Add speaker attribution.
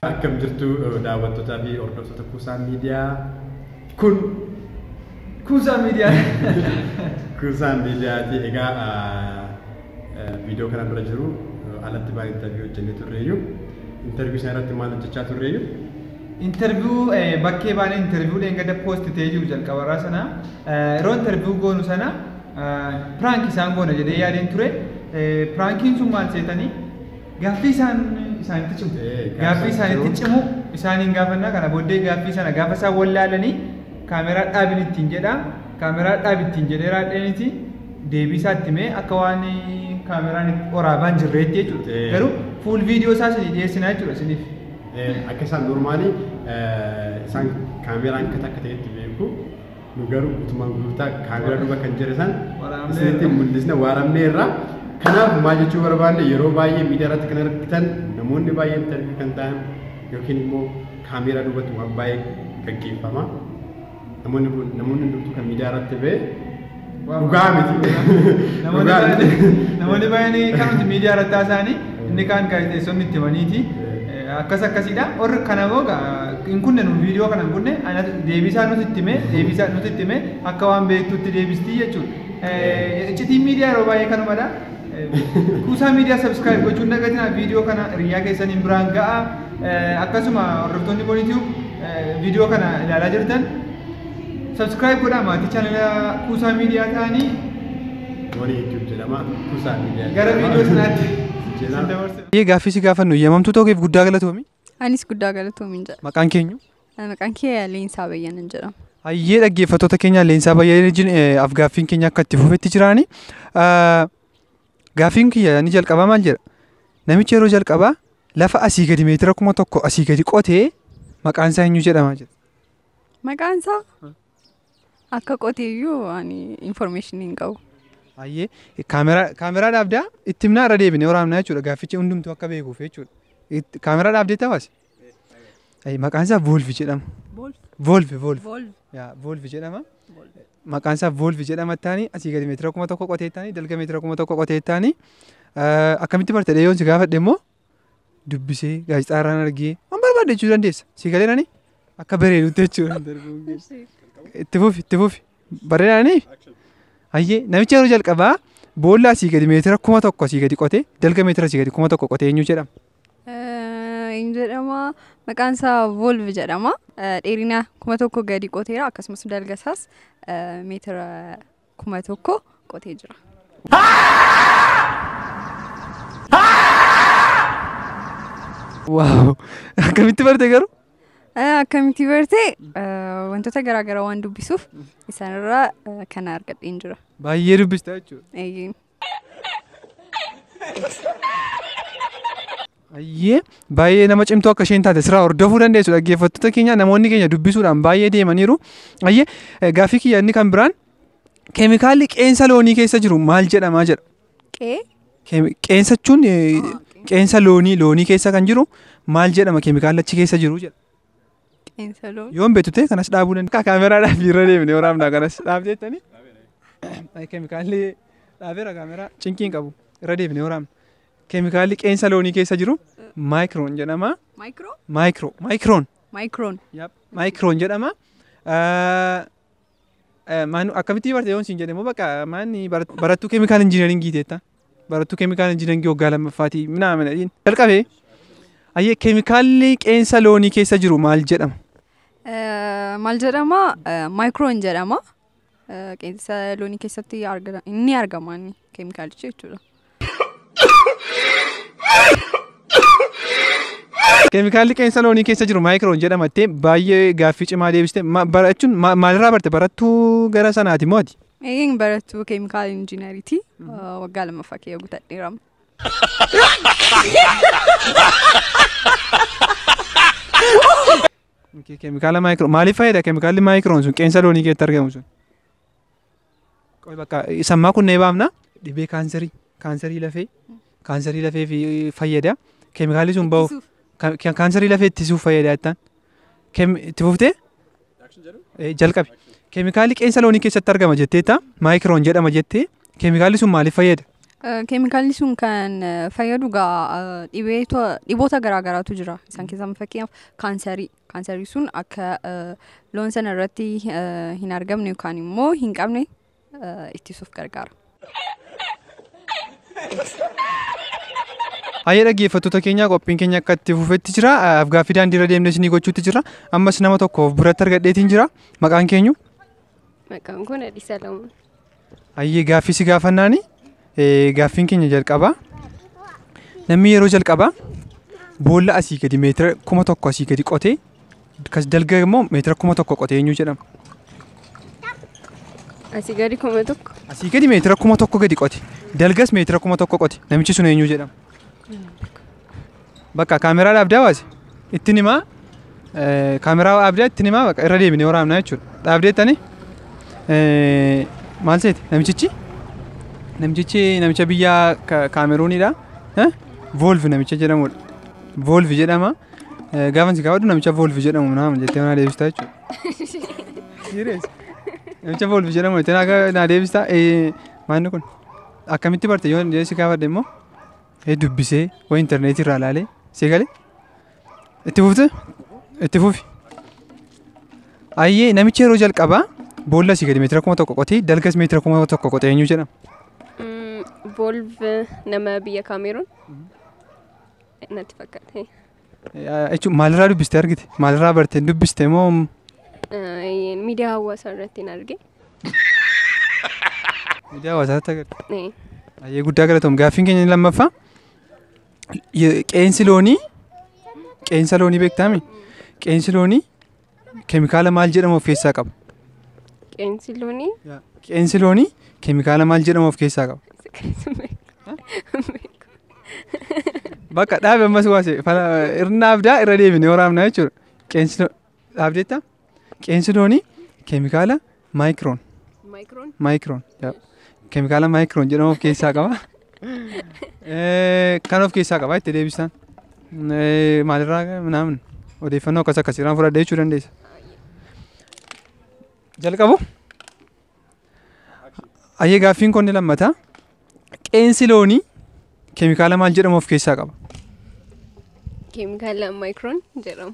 Speaker 1: Akkam jirtu daawwattootaa fi hordoftoota
Speaker 2: kuusaa miidiyaa kun
Speaker 1: Kuusaa miidiyaa. kuusaa miidiyaati. Egaa viidiyoo kanaan dura jiru alatti baay'ee interviyuu hojjennee turreeyyu. Interviyuu sana irratti maal hojjechaa turreeyyu? Interviyuu
Speaker 2: bakkee baanee interviyuu dheengadda poosti ta'ee jiru jalqabarraa sana yeroo interviyuu goonu sana piraanki isaan goona jedhee yaadeen ture. Piraankiin sun maal seetanii? Gaaffii isaan isaanitti cimu. Ee, gaaffii gaaffii isaanitti cimu isaaniin gaafannaa kana booddee gaaffii sana gaafa isaan wallaalanii kaameraa dhaabin ittiin jedha kaameraa dhaabi ittiin jedhee raadheeniti deebii isaa itti mee akka waan kaameraan itti waraabaan jirreetti jechuudha. Ee. Garuu fuul viidiyoo isaa isinii dhiyeessinaa jechuudha isiniif. Eh, Akka isaan
Speaker 1: normaalii eh, isaan kaameraan akka takka ta'etti beeku. nu garuu gutumaan guutaa kaamera duba kan jira san isinitti mul'isna waaramnee irraa kanaaf maa jechuu barbaanne yeroo baay'ee miidiyaa irratti kan argitan namoonni baay'een tarbii kan ta'an yookiin immoo kaameeraa duubatti waan baay'ee gaggeeffama namoonni kun namoonni hundumtuu kan miidiyaa irratti ba'e Dhugaa miti. Dhugaa miti.
Speaker 2: Namoonni baay'een kanumti miidiyaa irratti haasa'anii inni kaan gaazexeessonni itti himaniiti. Akkas akkasiidha. Warri kana immoo hin kunne nuun viidiyoo kana hin kunne deebisaa nuti itti himee deebisaa nuti itti himee akka waan beektutti deebistii jechuudha. Iccitiin miidiyaa yeroo baay'ee kanumadha. Kuusaa miidiyaa sabiskiraayib gochuun dagatinaa viidiyoo kana hiriyyaa keessaniin biraan ga'a. Akkasuma hordoftoonni Bonitiif viidiyoo kana ilaalaa jirtan Subscribe godhaa maatii chaanala Kuusaa Miidiyaa ta'anii. Warri
Speaker 1: YouTube jedhama Kuusaa Miidiyaa. Gara viidiyoo sanaatti
Speaker 2: isin dabarsa.
Speaker 3: Ee gaaffii si gaafannu eeyyamamtuu ta'uu keef guddaa galatoomi. Anis guddaa
Speaker 4: galatoomiin jedha. Maqaan keenyu.
Speaker 3: Maqaan kee
Speaker 4: Leensaa Bayyanan jedhama. Hayyee dhaggeeffattoota
Speaker 3: keenya Leensaa Bayyanan wajjin afgaaffiin keenya akka itti fufetti jiraani. Gaaffiin kiyya ni jalqabaa maal jedha? Namichi yeroo jalqabaa lafa asii gadi meetira kuma tokko asii gadi qotee maqaan isaa eenyu jedhama jedha. Maqaan
Speaker 4: isaa akka qotee iyyuu ani information hin qabu. Ayyee
Speaker 3: kaameraa kaameraa dhaabdaa itti himnaa irra deebinee waraabnaa jechuudha gaaffichi hundumtuu akka beekuuf jechuudha. Itti- Kaameraa dhaabdee tawaasi. Ayyee maqaan isaa Voolvi jedhama. Boolf. Voolvi Voolvi. Boolf. Yaa Voolvi jedhama. Maqaan isaa Voolvi jedhama taanii asii gadi meetira kuma tokko qotee taanii dalga meetira kuma tokko qotee taanii akkamitti barte dheeyoon si gaafadhe immoo dubbisee gaazexaa irraan argee waan barbaadde jechuu dandeessa. Si galee nani akka bareedutti jechuudha. Itti fufi itti fufi bareedaanii hayyee namichi yeroo jalqabaa boolla asii gadi meetira kuma tokko asii gadi qotee dalga meetira asii gadi kuma tokko qotee eenyu jedhama.
Speaker 4: Hin jedhama maqaan isaa Volv jedhama. Dheerina kuma tokko gadi qoteera akkasumas dalga isaas meetira kuma tokko qotee jira.
Speaker 3: Waaw! Akkamitti barte garuu? Eh, Akkamitti
Speaker 4: barte eh, wantoota garaagaraa waan dubbisuuf isaanirraa eh, kana argadheen jira. Baay'ee dubbista
Speaker 3: jechuudha. Eeyyee. Ayyee baay'ee nama cimtuu akka isheen taate sirraa hordofuu dandeessu dhaggeeffattoota keenya namoonni keenya dubbisuudhaan baay'ee deemaniiru. Ayyee eh, gaaffii kiyya inni kan biraan keemikaalli qeensa loonii keessa jiru maal jedhama jedha. Qee Keemi- Qeensa jechuun eh, qeensa loonii loonii keessa kan jiru maal jedhama keemikaalli achi keessa jiru jedha. Xiinsaluun.
Speaker 4: Yoon beektu ta'e kanas dhaabuu
Speaker 3: danda'a. Akka kaameraadhaaf irra deemne waraabnaa kanas dhaab jettanii. Keemikaalli dhaabeera kaameraa cinqii hin qabu irra deemne waraabna. Keemikaalli qeensa loonii keessa jiru maayikiroon jedhama. Maayikiroo. Maayikiroo maayikiroon Maayikroon. maayikiroon jedhama. Maanu akkamitti barte yoon siin jedhe immoo bakka maanni barattuu keemikaal injiinaringii teetta. Barattuu keemikaal injiinaringii waggaa lammaffaati minaa mana dhiin. Jalqabee ayyee keemikaalli qeensa loonii keessa jiru maal jedhama?
Speaker 4: Maal jedhama? Maayikroon jedhama. Qeensa loonii keessatti ni argama keemikaalichi jechuudha.
Speaker 3: Keemikaalli qeensa loonii keessa jiru maayikiroon jedhama jettee baay'ee gaaffii cimaa deebiste. Ma- Barachuun ma- maalirraa barte barattuu gara sanaati moo ati? Eegeen barattuu
Speaker 4: keemikaala injiinariiti. Waggaa lammaffaa kee gutadheera.
Speaker 3: Keemikaala maayikiroon maaliif fayyada keemikaalli maayikiroon sun qeensa loonii keessatti argamu sun? Qoy bakka isa ammaa kun nee baamna dhibee kaanserii kaanserii lafee kaanserii lafee fi fayyada keemikaalii sun bahuuf Ittisuuf. ka- kaanserii lafee ittisuuf fayyada jettaan Keem- itti fuftee Eh, jalqabi keemikaalii qeensa loonii keessatti argama jetteetta maayikiroon jedhama jettee keemikaalii sun maaliif fayyada Eh,
Speaker 4: Keemikaalli sun kan eh, fayyadu gaa eh, dhibee to- dhiboota garaagaraatu jira. Isaan keessaa fakkeenyaaf kaansarii. Kaansarii sun akka loon sana irratti hin argamne yookaan immoo hin qabne ittisuuf gargaara.
Speaker 3: Hayyee dhaggeeffattoota keenya qophiin keenya akka itti fufetti jira. Afgaaffii daandii irra deemnee isinii gochuutti jira. Ammas nama tokko of biratti argadheetiin jira. Maqaan keenyu? Maqaan
Speaker 5: koo Nadhii Salamoon. Ayyee
Speaker 3: gaaffii si gaafannaani eh, gaaffiin keenya jalqabaa namni yeroo jalqabaa boolla asii gadi meetira kuma tokko asii gadi qotee kas dalga immoo meetira kuma tokko qotee eenyu jedhama
Speaker 5: Asii gadi kuma tokko. asii gadi meetira
Speaker 3: kuma tokko gadi qote dalgas meetira kuma tokko qote namichi sun eenyu jedhama Bakka kaameraa dhaabdee hawaasi ittiin himaa kaameraa dhaabdee ittiin himaa bakka irra deebinee waraabnaa jechuudha. Dhaabdee tani maal seeti namichichi namichichi namicha biyya kaameruunidha. Voolvi namicha jedhamudha. Voolvi jedhama. Gaafa si kaawwadhu namicha voolvi jedhamu naama jettee naa deebista jechuudha. Namicha voolvi jedhamu jettee naa deebista. Maanni kun akkamitti barte yoo si kaafadhe immoo Ee dubbisee waan intarneetii irraa ilaalee si galee itti fufte itti fufi. Ayyee namichi yeroo jalqabaa boolla si gadi meetira kuma tokko qotee dalgas meetira kuma tokko qotee eenyu jedhama.
Speaker 5: Volv nama biyya Kaameeruun natti fakkaate. Jechuun
Speaker 3: maalirraa dubbiste argite? Maalirraa barte dubbiste moo Eh,
Speaker 5: Miidiyaa hawaasaa irratti hin arge.
Speaker 3: miidiyaa hawaasaatti agarta? Eh, Baay'ee guddaa galatoom. Gaaffiin keenya inni lammaffaa ye- qeensi loonii qeensa loonii beektaami? Qeensi loonii Keemikaala maal jedhamu of keessaa qaba? Qeensi loonii. Qeensi loonii keemikaala maal jedhamu of keessaa qaba? Bakka dhaabe ammas waase irna abdaa irra deebine waraabna jechuudha. Qeensi dhaabdeetta? Qeensi loonii keemikaala Maayikiroon. Maayikiroon. Maayikiroon. yaa. Keemikaala maayikiroon jedhamu of keessaa qaba. Eh, Kan of keessaa qaba itti deebisaan. Eh, Maalirraa naamin odeeffannoo akkas akkasiirraan fudhadhee jechuu dandeessa. Jalqabu. Ayyee gaaffiin kun ni lammata. Qeensi loonii keemikaala maal jedhamu of keessaa qaba?
Speaker 5: Keemikaala maayikiroon jedhamu.